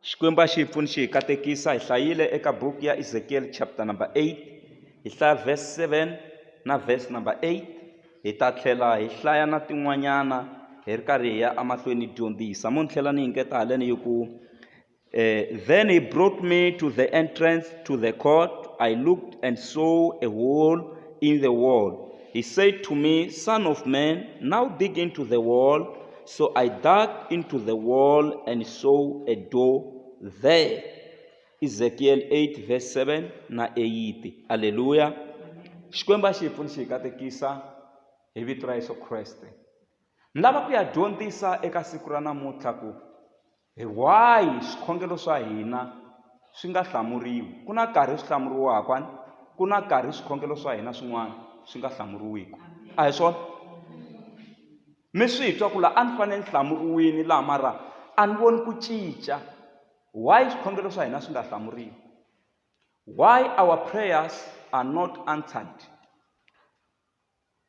Xikwembu a xi hi pfuni xi hi katekisa hi hlayile eka buku ya Ezekiel chapter number 8 hi hlaya verse 7 na verse number 8 hi ta tlhela hi hlaya na tin'wanyana hi ri karhi hi ya emahlweni hi dyondzisa mo ni tlhela ni yingeta haleni yi ku eh, then he brought me to the entrance to the court i looked and saw a hole in the wall he said to me son of man now dig into the wall So I dug into the wall and saw a door there. Ezekiel 8 verse 7 na 8. Hallelujah. Xikwembu a xi hi pfuni xi hi katekisa hi vito ra Yesu Kreste. Ni lava ku ya dyondzisa eka siku ra namuntlha ku Hi wahi swikhongelo swa hina swi nga hlamuriwi? Ku na nkarhi swi hlamuriwaka, ku na nkarhi swikhongelo swa hina swin'wana swi nga hlamuriwiki. A hi swona? Mi swi twa ku la a ni fanele ni hlamuriwini laha mara a ni voni ku cinca. Why swikhongelo swa hina swi nga hlamuriwi? Why our prayers are not answered?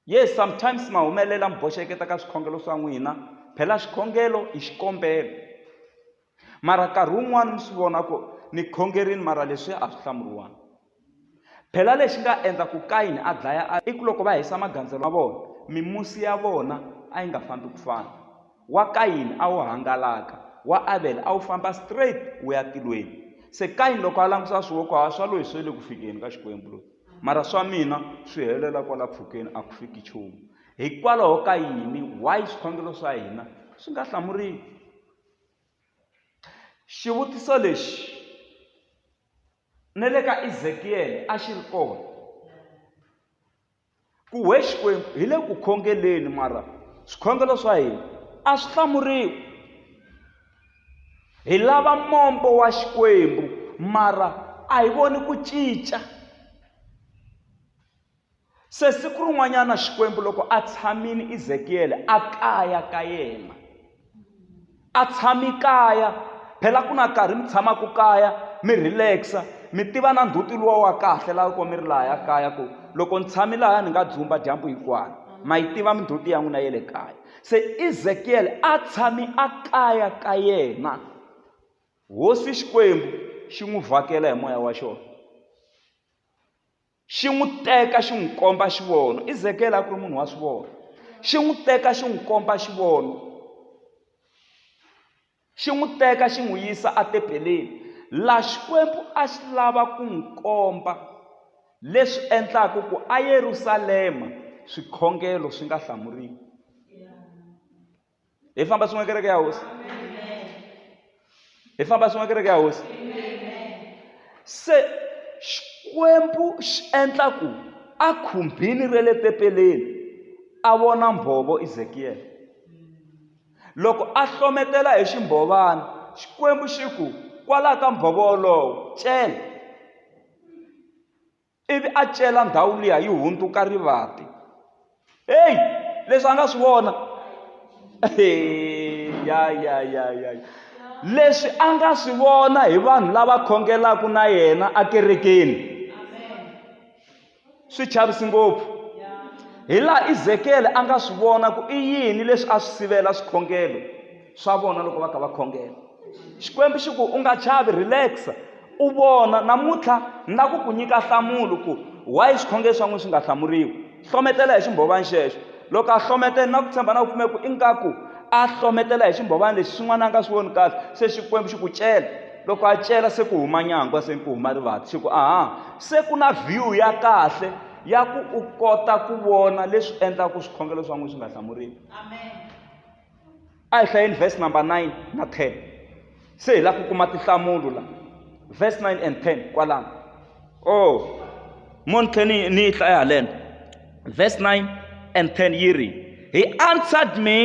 Yes, sometimes ma humelela mi boxeketa ka swikhongelo swa n'wina, phela xikhongelo i xikombelo. Mara nkarhi wun'wana mi swi vona ku ni khongerini mara leswiya a swi hlamuriwanga. Phela lexi nga endla ku Kayini a dlaya a i ku loko va hisa magandzelo ma vona mimusi ya vona a yi nga fambi ku fana. Wa Kayini a wu hangalaka, wa Avele a wu famba straight wu ya tilweni. Se Kayini loko a langusa swi wo ku hayi swa loyi swi le ku fikeni ka Xikwembu loyi, mara swa mina swi helela kwala mpfhukeni a ku fiki nchumu. Hikwalaho ka yini? Why swikhongelo swa hina swi nga hlamuriwi? Xivutiso lexi na le ka Ezekiyele a xi ri kona. Ku whe Xikwembu, hi le ku khongeleni, mara swikhongelo swa hina a swi hlamuriwi. Hi lava mombo wa Xikwembu, mara a hi voni ku cinca. Se siku rin'wanyana Xikwembu loko a tshamile Ezekiyele a kaya ka yena, a tshami kaya phela ku na karhi mi tshamaka kaya mi relax-a mi tiva na ndzhuti luwa wa kahle laha loko mi ri lahaya kaya ku loko ni tshami lahaya ni nga dzumba dyambu hinkwayo ma yi tiva mindzhuti ya n'wina ya le kaya se ezekiyele a tshami a kaya ka yena hosi xikwembu xi n'wi vhakela hi moya wa xona xi n'wi teka xi n'wi komba xi vona izekele a ku ri munhu wa swi vona xi n'wi teka xi n'wi komba xi vona xi n'wi teka xi n'wi yisa atebeleni laha xikwembu a xi lava ku n'wi komba leswi endlaka ku ayerusalema swikhongelo swi nga hlamuriwi Ele fala para você uma que é a ouça. Ele fala para você uma que é a ouça. Se Xikwembu xi endla ku a khumbini ra le tepeleni a vona mbhovo ezekiyele loko a hlometela hi ximbhovana xikwembu xi ku kwalaho ka mbhovo wolowo cela ivi a cela ndhawu liya yi hundzuka rivati heyi leswi a nga swi vona ya ya ya ya leswi a nga swi vona hi vanhu lava khongelaka na yena ekerekeni swi chavisi ngopfu hi laha izekele a nga swi vona ku i yini leswi a swi sivela swikhongelo swa vona loko va kha va khongela xikwembu xi ku u nga chavi relaxa u vona namuntlha ni la ku ku nyika nhlamulo ku why swikhongelo swa n'wina swi nga hlamuriwi hlometela hi ximbhovani xexo loko a hlometela na ku tshemba na ku pfumela ku ingaku a hlometela hi ximbhovani lexi xin'wana a nga swi voni kahle se xikwembu xi ku cela loko a cela se ku huma nyangwa se ku huma rivati xi ku aha se ku na view ya kahle ya ku u kota ku vona leswi endlaka swikhongelo swa n'wina swi nga hlamuriwi amen a hi hlayeni verse number 9 na 10 se hi lava ku kuma tinhlamulo la verse 9 and 10 kwalano o oh, mo ni tlhela ni ni yi hlaya haleno verse 9 and 10 yi ri he answered me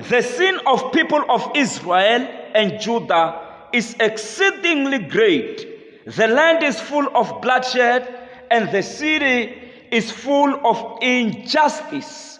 the sin of people of israel and judah is exceedingly great the land is full of bloodshed and the city is full of injustice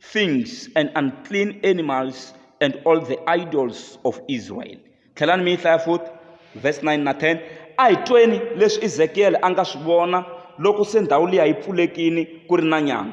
things and unclean animals and all the idols of Israel. Tlhelani mi yi hlaya futhi verse 9 na 10. A hi tweni leswi Ezekiele a nga swi vona loko se ndhawu liya yi pfulekini ku ri na nyama.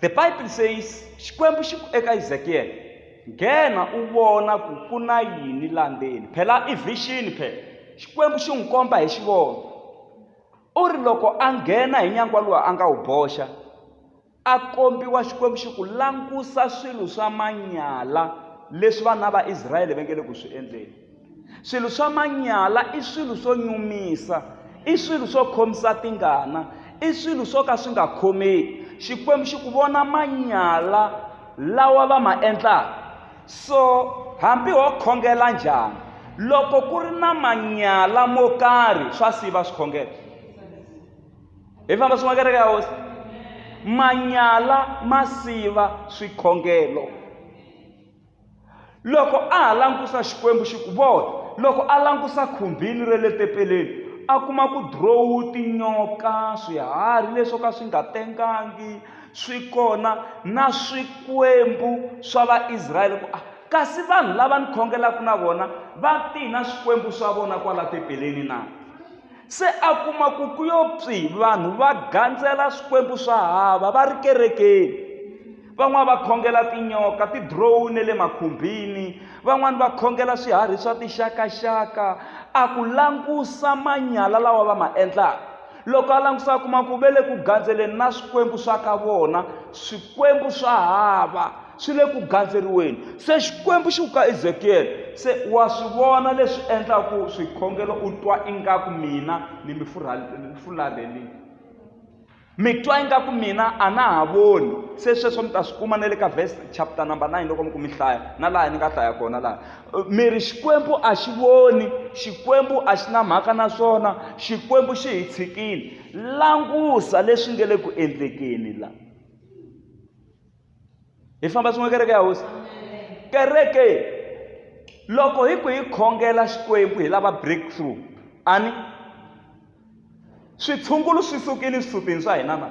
The Bible says Xikwembu xi ku eka Ezekiel nghena u vona ku ku na yini la ndzeni phela i vision phela Xikwembu xi n'wi komba hi xivono u ri loko a nghena hi nyangwa lowu a nga wu boxa a kombiwa Xikwembu xi ku langusa swilo swa manyala leswi vana va Israyele va nge le ku swi endleni swilo swa manyala i swilo swo nyumisa i swilo swo khomisa tingana i swilo swo ka swi nga khomeki xikwembu xi ku vona manyala lawa va ma endlaka so hambi ho khongela njhani loko ku ri na manyala mo karhi swa siva swikhongelo hi famba swin'wa kereke ya hosi manyala ma siva swikhongelo loko a ha langusa xikwembu xi ku vona loko a langusa khumbini ra le tempeleni a kuma ku drowu tinyoka swiharhi leswo ka swi nga tengangi swi kona na swikwembu swa vaisrayele ku a ah, kasi vanhu lava ni khongelaka na vona va tihi na swikwembu swa vona kwala tempeleni na se a kuma ku ku yo pfi vanhu va gandzela swikwembu swa hava va ri kerekeni van'wana va khongela tinyoka tidrowu ne le makhumbini van'wana va khongela swiharhi swa tixakaxaka a ku langusa manyala lawa va ma endlaka loko a langusa a kuma ku ve le ku gandzeleni na swikwembu swa ka vona swikwembu swa hava swi le ku gandzeriweni se xikwembu xi ku ka ezekiyele se wa swi vona leswi endlaku swikhongelo u twa ingaku mina ni mi fularhelini mi twa ingaku mina a na ha voni se sweswo mi ta swi kuma na le ka verse chapter number 9 loko mi ku mi hlaya na laha ni nga hlaya kona laha mi ri xikwembu a xi voni xikwembu a xi na mhaka na swona xikwembu xi hi tshikile langusa leswi nge le ku endlekeni la hi famba swin'we kereke ya hosi kereke loko hi ku hi khongela xikwembu hi lava breakthrough ani switshungulu swi sukile swisutini swa hina na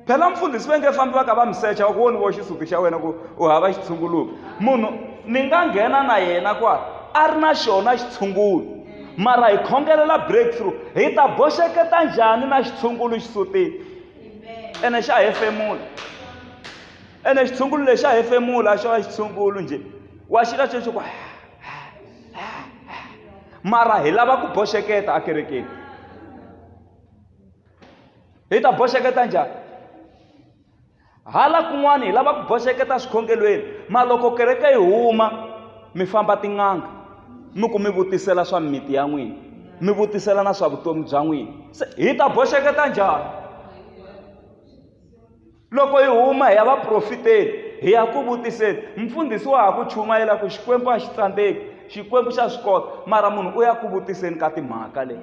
phela mfundhisi va nge fambi va ka va mi secha wa ku woni vo xisuti xa wena ku u hava xitshunguluki munhu ni nga nghena na yena kwa a ri na xona xitshungulo mara hi khongelela breakthrough hi ta boxeketa njhani na xitshungulo xisutini ene xa hefemula ene xitshungulu lexi xa hefemula a xo va xitshungulu njhe wa xila xexo ku mara hi lava ku boxeketa ekerekeni hi ta boxeketa njhani hala kun'wana hi lava ku boxeketa swikhongelweni ma loko kereke yi huma mi famba tin'anga mi ku mi vutisela swa mimiti ya n'wina mi vutisela na swa vutomi bya n'wina se hi ta boxeketa njhani loko hi huma hi ya vaprofiteni hi ya ku vutiseni mfundhisi wa ha ku chumayela ku xikwembu a xi tsandzeki xikwembu xa swi kota mara munhu u ya ku vutiseni ka timhaka leyi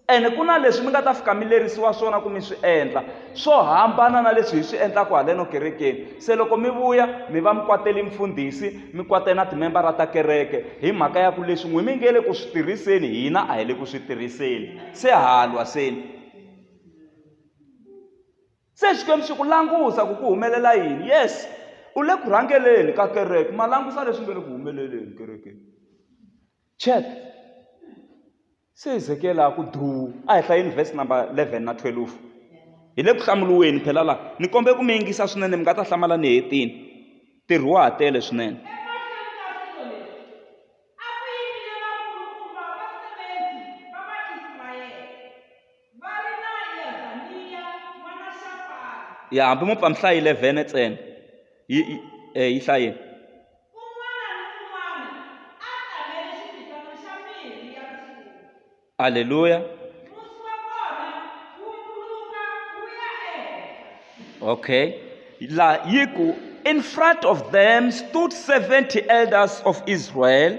ene ku na leswi mi nga ta fika mi lerisiwa swona ku mi swi endla swo hambana na leswi hi swi endlaka haleno kerekeni se loko mi vuya mi va mi kwateli mfundhisi mi kwate na timembara ta kereke hi mhaka ya ku leswi n'wi mi nge le ku swi tirhiseni hina a hi le ku swi tirhiseni se halwa seni se xikwembu xi ku langusa ku ku humelela yini yes u le ku rhangeleni ka kereke ma langusa leswi nge le ku humeleleni kerekeni check Se hi zekela ku duu. A hi hlayeni vhesi namba 11 na 12. Hi le ku hlamuriweni phela laha. Ni kombela ku mi yingisa swinene, mi nga ta hlamala ni hetile. Ntirho wa ha tele swinene. ya hambi mo pfa mi hlayi 11 ntsena yi yi eh, yi hlayeni aleluya okay la yi ku in front of them stood 70 elders of israel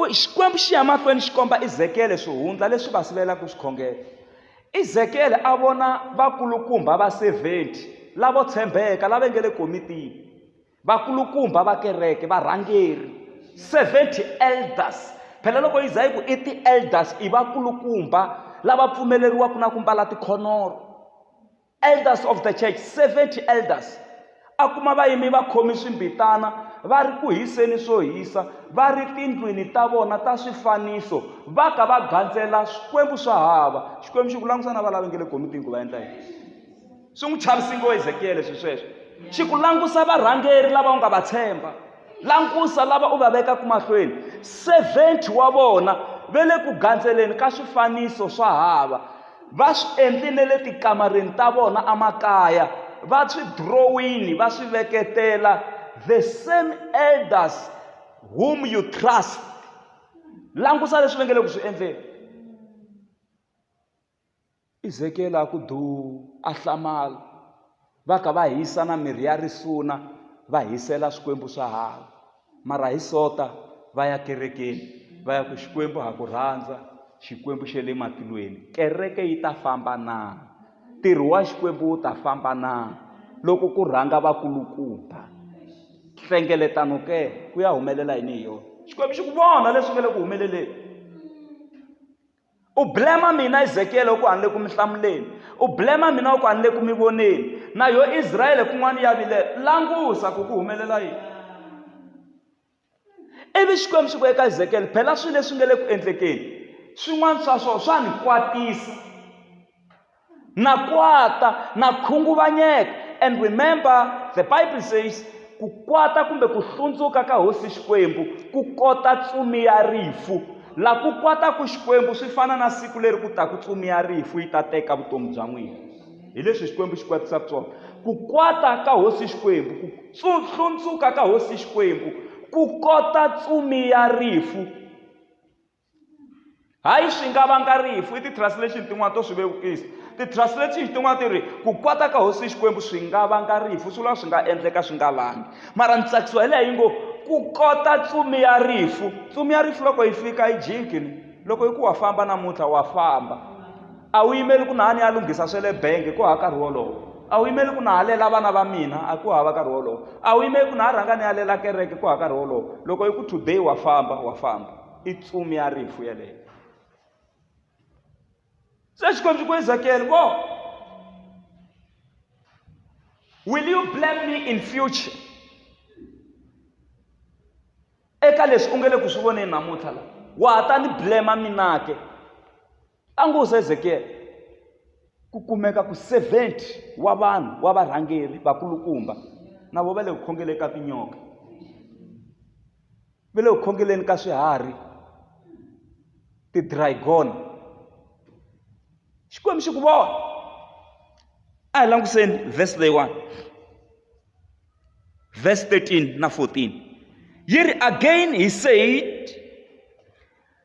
U, Xikwembu xi ya mahlweni xi komba Ezekiyele swihundla leswi va sivelaka swikhongelo. Ezekiyele a vona vakulukumba va 70 lavo tshembeka lava nge le komitini, vakulukumba va kereke, varhangeri, 70 elders. Phela loko yi za yi ku i ti-elders, i vakulukumba lava pfumeleriwaka na ku mbala tikhonoro. elders of the church 70 elders a kuma vayimi va khomi swimbitana va ri ku hiseni swo hisa va ri tindlwini ta vona ta swifaniso va ka va gandzela swikwembu swa hava xikwembu xi ku langusa na valavi nge le gomitini ku va endla yini swi n'wi chavisi ngo ezekiyele swi sweswo xi ku langusa varhangeri lava u nga va tshemba langusa lava u va vekaka mahlweni 70 wa vona ve le ku gandzeleni ka swifaniso swa hava va swi endlile le tikamareni ta vona emakaya va swi drowini va swi veketela the same elders whom you trust langusa leswi va nge le ku swi endleni Ezekiyele a ku duu, a hlamala. Va ka va hisa na mirhi ya risuna va hisela Xikwembu swa hava. Mara hi sota va ya kerekeni va ya ku, Xikwembu ha ku rhandza, Xikwembu xa le matilweni. Kereke yi ta famba na? Ntirho wa Xikwembu wu ta famba na loko ku rhanga vakulukumba? Nhlengeletano ke ku ya humelela yini hi yona? Xikwembu xi ku vona leswi nga le ku humeleleni. u blema mina ezekiele u ku a ni le ku mi hlamuleni u blema mina u ku a ni le ku mi voneni na yo israele kun'wana ya vile langusa ku ku humelela yini ivi xikwembu xi ku eka ezekiele phela swilo leswi nga le ku endlekeni swin'wana swa swona swa ni kwatisa na kwata na khunguvanyeka and remember the bible says ku kwata kumbe ku hlundzuka ka hosi xikwembu ku kota tsumi ya rifu la ku kwata ku xikwembu swi fana na siku leri ku taku tsumi ya rifu yi ta teka vutomi bya n'wina hi leswi xikwembu xi kwatisaka swona ku kwata ka hosi xikwembu ku hlundzuka ka hosi xikwembu ku kota tsumi ya rifu hayi swi nga vanga rifu i ti-translation tin'wana to swi vevukisa ti-translation tin'wana ti ri ku kwata ka hosi xikwembu swi nga vanga rifu swi lava swi nga endleka swi nga vangi mara ni tsakisiwa hi leha yi ngo ku kota tsumi ya rifu tsumi ya rifu loko yi fika yi jikini loko yi ku wa famba namuntlha wa famba a wu yimeli ku nahani ya lunghisa swe le benge ku hava nkarhi wolowo a wu yimeli ku nahalela vana va mina a ku hava nkarhi wolowo a wu yimeli ku na ha rhanga ni yalela kereke ku hava nkarhi wolowo loko yi ku today wa famba wa famba i tsumi ya rifu yeleyo se xikwembu ku ezakele bo will you blame me in future eka leswi u nge le ku swi voneni namuntlha la wa ha ta ni blema minake Tangu Hezekiele, ku kumeka ku 70 wa vanhu wa varhangeri vakulukumba na vo va le ku khongeleni ka tinyoka, va le ku khongeleni ka swiharhi, tidraigona. Xikwembu xi ku vona. A hi langutiseni vhesi leyiwani, vhesi 13 na 14 yi ri again he said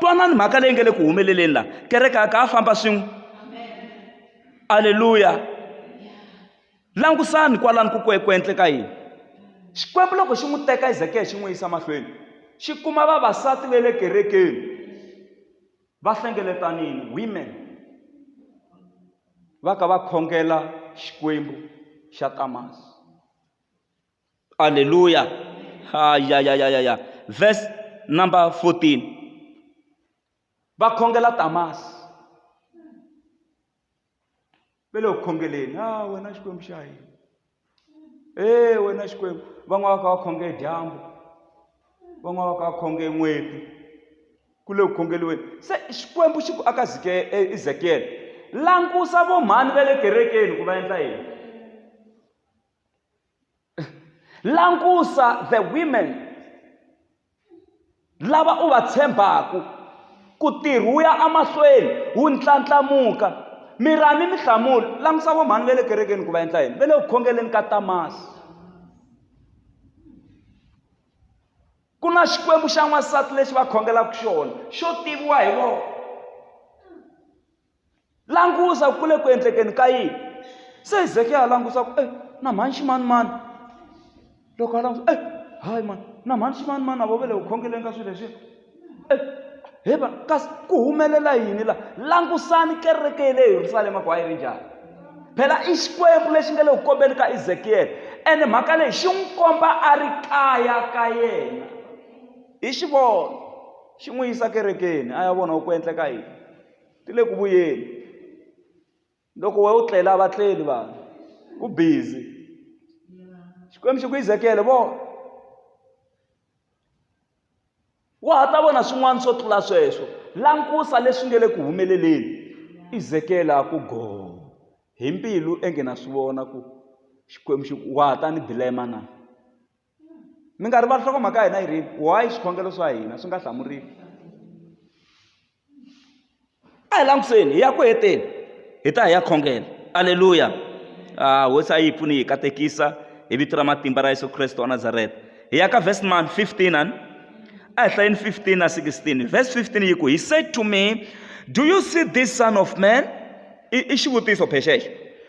twanani mhaka leyi nge le ku humeleleni laha kereke a ka a famba swin'we aleluya Langusani kwalano ku ku endleka yini. Xikwembu loko xi n'wi teka Ezekiya xi n'wi yisa mahlweni, xi kuma vavasati va le kerekeni va hlengeletanile, women, va ka va khongela xikwembu xa Tamas. Aleluya! Hayayayaya. Verse number 14. Va khongela Tamas. ve le ku khongeleni a wena xikwembu xa hina e wena xikwembu van'wana va ka va khonge dyambu van'wana va ka va khonge n'weti ku le ku khongeliweni se xikwembu xi ku aka ezekiyele langusa vomhani va le kerekeni ku va endla yini langusa the women lava u va tshembaka ku tirha wu ya emahlweni wu ndlandlamuka mi ra ni minhlamulo langutisa vo mhani va le kerekeni ku va endla yini va le ku khongeleni ka tamasi ku na xikwembu xa n'wansati lexi va khongelaka xona xo tiviwa hi vona langusa ku le ku endlekeni ka yini se hezekiya a langusa ku e na mhani ximanimani loko a langusa e hayi mani na mhani ximanimani a vo ve le ku khongeleni ka swilo leswiya e he va kasi ku humelela yini laha langusani kereke ya le yerusalema ku a yi ri njhani phela i xikwembu lexi nga le ku kombeni ka ezekiyele ene mhaka leyi xi n'wi komba a ri kaya ka yena hi xivona xi n'wi yisa kerekeni a ya vona ku endleka yini ti le ku vuyeni loko we u tlela va tleli vanhu ku busy xikwembu xi ku izekele vo wa ha ta vona swin'wana swo tlula sweswo langusa leswi nge le ku humeleleni izekela ku go hi mbilu enge na swi vona ku xikwembu xi ku wa ha ta ni bilema na mi nga rivali hloko mhaka hina yi rini why swikhongelo swa hina swi nga hlamuriwi a hi langutiseni hi ya ku heteni hi ta hi ya khongela aleluya a hosi a yi pfuni hi katekisa hi vito ra matimba ra yesu kreste wa nazareta hi ya ka vhesi man 15 ani a hi hlayeni 15 na 16 vhesi 15 yi ku he said to me do you see this son of man i xivutiso phexexo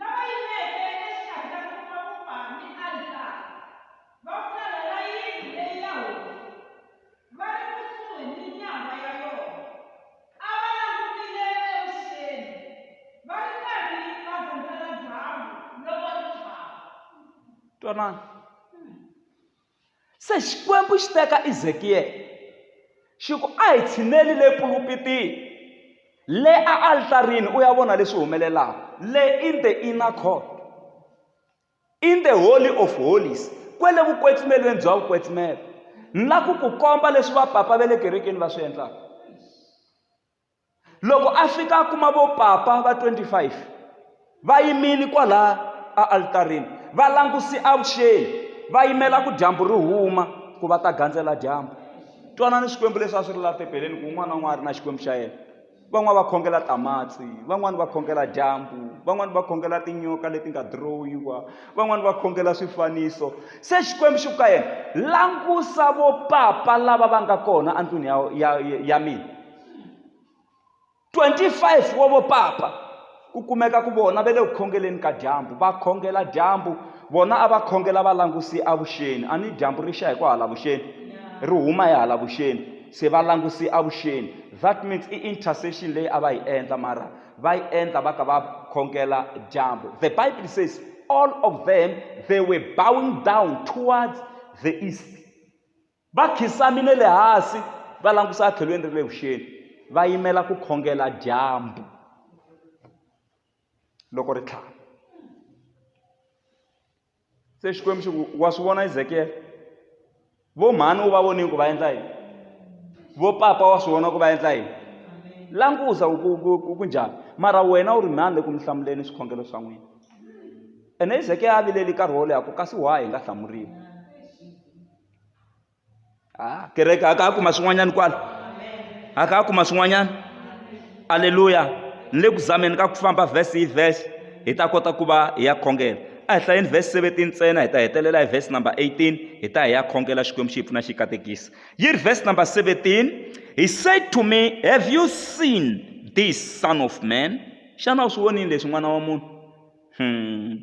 Lava yimeke exikarhi ka nkomakupa ni alitara va pfulelela yindlu leyi ya hosi va ri kusuhi ni nyangwa ya yona, a va langutile evuxeni va ri karhi va gandzela dyambu loko ri tshwama. Twanani. Se Xikwembu xi te ka Ezekiyele, xi ku, A hi tshineli le pulupitini, le aaltarini, u ya vona leswi humelelaka. Le in the inner court, in the holy of holies, kwele vukwetsmelweni bya vukwetsmelo, ni la ku ku komba leswi vapapa va le kerekeni va swi endlaka. loko a fika a kuma vo papa va 25 va yimile kwalaya a alitarini va languse avuxeni va yimela ku dyambu ri huma ku va ta gandzela dyambu twanani swikwembu leswi a swi ri laha tebeleni ku un'wana na un'wana a ri na xikwembu xa yena van'wani va khongela tamatsi van'wani va khongela dyambu van'wani va khongela tinyoka leti nga dirowiwa van'wani va khongela swifaniso se xikwembu xi ku ka yena langusa vo papa lava va nga kona endlwini ya ya ya mina 25 wa vopapa ku kumeka ku vona ve le ku khongeleni ka dyambu va khongela dyambu vona a va khongela va languse avuxeni a ni dyambu ri xa hi ku hala vuxeni ri huma hi hala vuxeni se va languse avuxeni that means i intercession leyi a va yi endla mara va yi endla va ka va khongela dyambu the bible says all of them they were bowing down towards the east Va khisamile le hansi va langusa etlhelweni ra le vuxeni va yimela ku khongela dyambu loko ri tlhava se xikwembu xi ku wa swi vona ezekiyele vo mhani u va vonile ku va endla yini vo papa wa swi vona ku va endla yini langusa ku njhani mara wena u ri mhani le ku mi hlamuleni swikhongelo swa n'wina ene ezekiyele a vileli nkarhi wo leha ku kasi why hi nga hlamuriwi ah, kereke a ka kuma swin'wanyana kwala a ka kuma swin'wanyana aleluya ni le ku zameni ka ku famba vhesi hi vhesi hi ta kota ku va hi ya khongela a hi hlayeni vhesi 17 ntsena hi ta hetelela hi vhesi number 18 hi ta hi ya khongela xikwembu xi hi pfuna xi katekisa yi ri vhesi number 17 he said to me have you seen this son of man xana u swi vonile leswi n'wana wa munhu hmm.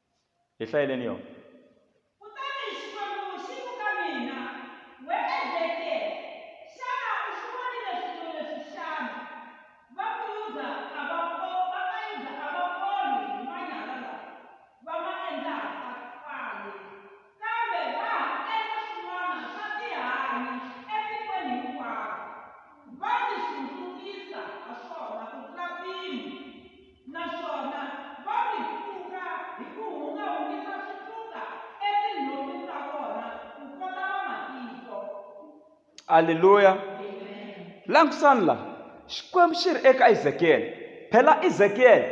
Hi hlayeleni yona. Kutani Xikwembu xi ku ka mina, We Ezekiyele, xana u swi vonile swilo leswi xana? Va ku Yuda a va ko, va ka Yuda a va koli hi manyala lawa va ma endlaka kwale, kambe va ha endla swin'wana swa tihanyi etikweni hinkwaro, va tihlundzukisa ha swona ku tlula mpimo. aleluya langusani la xikwembu xi ri eka ezekiyele phela ezekiyele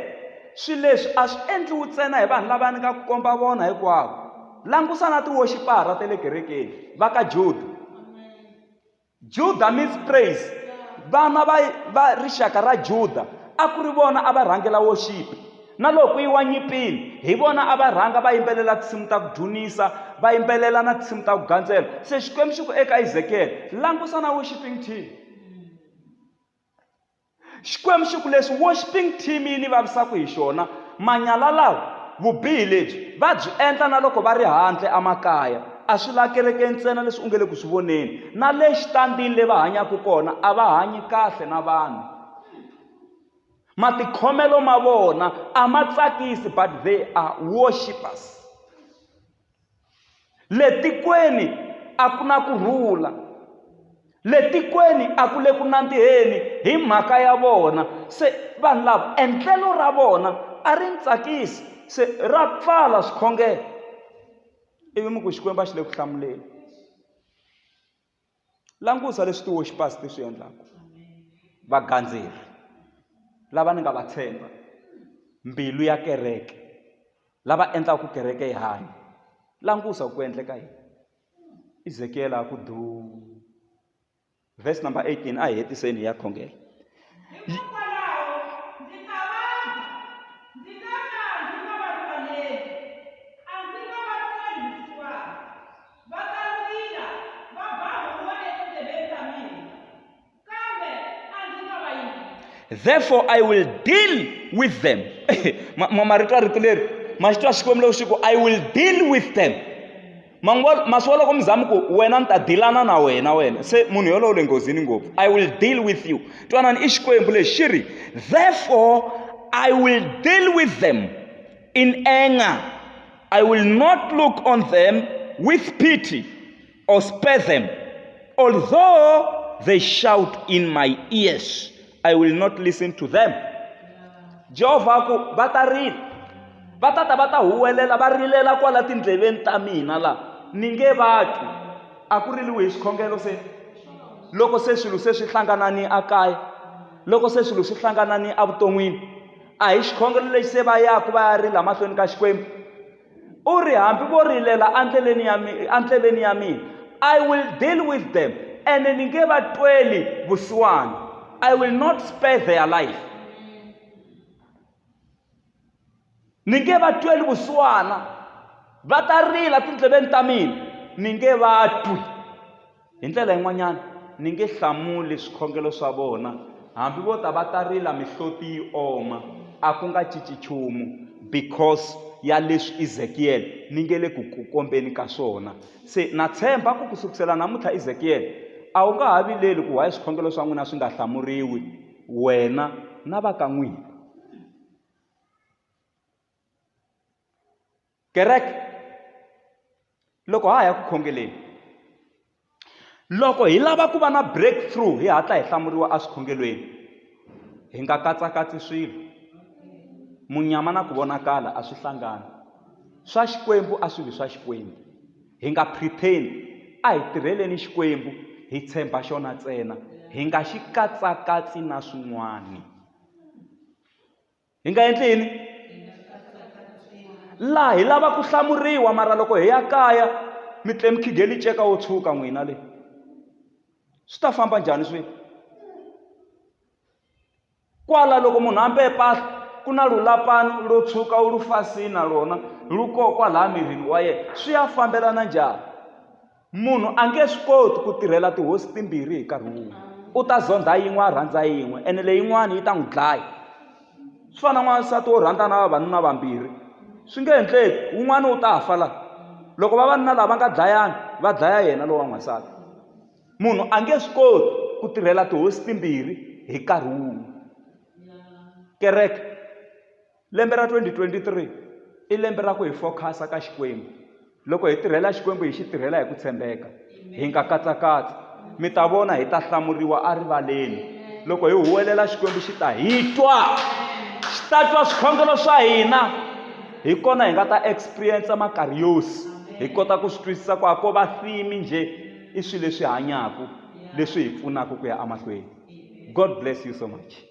swilo leswi a swi endliwi ntsena hi vanhu lava ni nga ku komba vona hinkwavo langusa na tiwoxipara ta le kerekeni va ka juda Juda means praise. Vana va, va rixaka ra Juda a ku ri vona a va rhangela worship. Na loko yi wa nyipini, hi vona a va rhanga va yimbelela tinsimu ta ku dzunisa, va yimbelela na tinsimu ta ku gandzela. Se Xikwembu xi ku eka Ezekiel, langusa na worshiping team. xikwembu xi ku leswi worshiping team yi ni vavisaka hi xona manyala lawa vubihi lebyi va byi endla na loko va ri handle emakaya a swi la kereke ntsena leswi u nge le ku swi voneni na le xitandini le va hanyaka kona a va hanyi kahle na vanhu matikhomelo ma vona a ma tsakisi but they are worshipers le tikweni a ku na ku rhula le tikweni a ku le ku nandziheni hi mhaka ya vona se vanhu lava endlelo ra vona a ri ni tsakisi se ra pfala swikhongelo ivi mi ku xikwembu a xi le ku hlamuleni langusa leswi ti-worshippers ti swi endlaka vagandzeri lava ni nga va tshemba mbilu ya kereke lava endlaka ku kereke yi hanya langusa ku endleka yini izekiyele a ku du verse number 18 a hi hetiseni hi ya khongela Va kandzila, va ba huwa etindleveni ta mina, kambe a ndzi ta va yingisa. Therefore I will deal with them. Ma- ma- Marito ya rito leri ma xi twa Xikwembu loko xi ku I will deal with them. Manguva masiwa loko mi zamu ku wena ni ta dilana na wena wena se munhu yolowo le nghozini ngopfu I will deal with you. Twanani i Xikwembu lexi xi ri therefore I will deal with them. In anger, I will not look on them with pity or spare them. Although they shout in my ears, I will not listen to them. Jehovah ku va ta rila va ta ta va ta huwelela va rilela kwala tindleveni ta mina la ni nge vati a ku riliwi hi swikhongelo se loko se swilo se swi hlangana ni a kaya loko se swilo swi hlangana ni evuton'wini a hi xikhongelo lexi se va yaku va ya rila mahlweni ka xikwembu u ri hambi vo rilela endleleni ya endleleni ya mina i will deal with them ene ni nge va tweli vusiwana i will not spare their life ni nge va tweli vusiwana va ta rila tindleveni ta mina ni nge va twi Hi ndlela yin'wanyana, ni nge hlamuli swikhongelo swa vona, hambi vo ta va ta rila mihloti yi oma, a ku nga cinci nchumu, because ya leswi Ezekiel ni nge le ku ku kombeni ka swona. Se na tshemba ku ku sukusela namuntlha Ezekiel, a wu nga ha vileli ku why swikhongelo swa n'wina swi nga hlamuriwi, wena na va ka n'wina. kereke loko ha ha ya ku khongeleni loko hi lava ku va na breakthrough hi hatla hi hlamuriwa eswikhongelweni hi nga katsakatsi swilo munyama na ku vonakala a swi hlangani swa xikwembu a swi vi swa xikwembu hi nga pretend a hi tirheleni xikwembu hi tshemba xona ntsena hi nga xi katsakatsi na swin'wana hi nga endli yini laha hi lava ku hlamuriwa mara loko hi ya kaya mi tle mikhigeli ceka wo tshuka n'wina leyi swi ta famba njhani swi kwala loko munhu ambe mpahla ku na lulapani lo tshuka wu lu fasini na lona lu kokwa laha mirini wa yena swi ya fambelana njhani Munhu a nge swi koti ku tirhela tihosi timbirhi hi nkarhi wun'we. U ta zondha yin'we a rhandza yin'we ene leyin'wana yi ta n'wi dlaya. Swi fana na n'wansati wo rhandza na vavanuna vambirhi. Swi nge endleki, wun'wana wu ta fa la. Loko vavanuna lava va nga dlayana, va dlaya yena lowa n'wansati. Munhu a nge swi koti ku tirhela tihosi timbirhi hi nkarhi wun'we. Kereke. Lembe ra 2023 i lembe ra ku hi fokhasa ka Xikwembu. Loko hi tirhela Xikwembu hi xi tirhela hi ku tshembeka, hi nga katsakatsi, mi ta vona hi ta hlamuriwa erivaleni. Loko hi huwelela Xikwembu xi ta hi twa, xi ta twa swikhongelo swa hina. Hi kona hi nga ta experience makariyosi, hi kota ku swi twisisa ku a ko va theme njhe i swilo leswi hanyaka leswi hi pfunaka ku ya emahlweni. God bless you so much.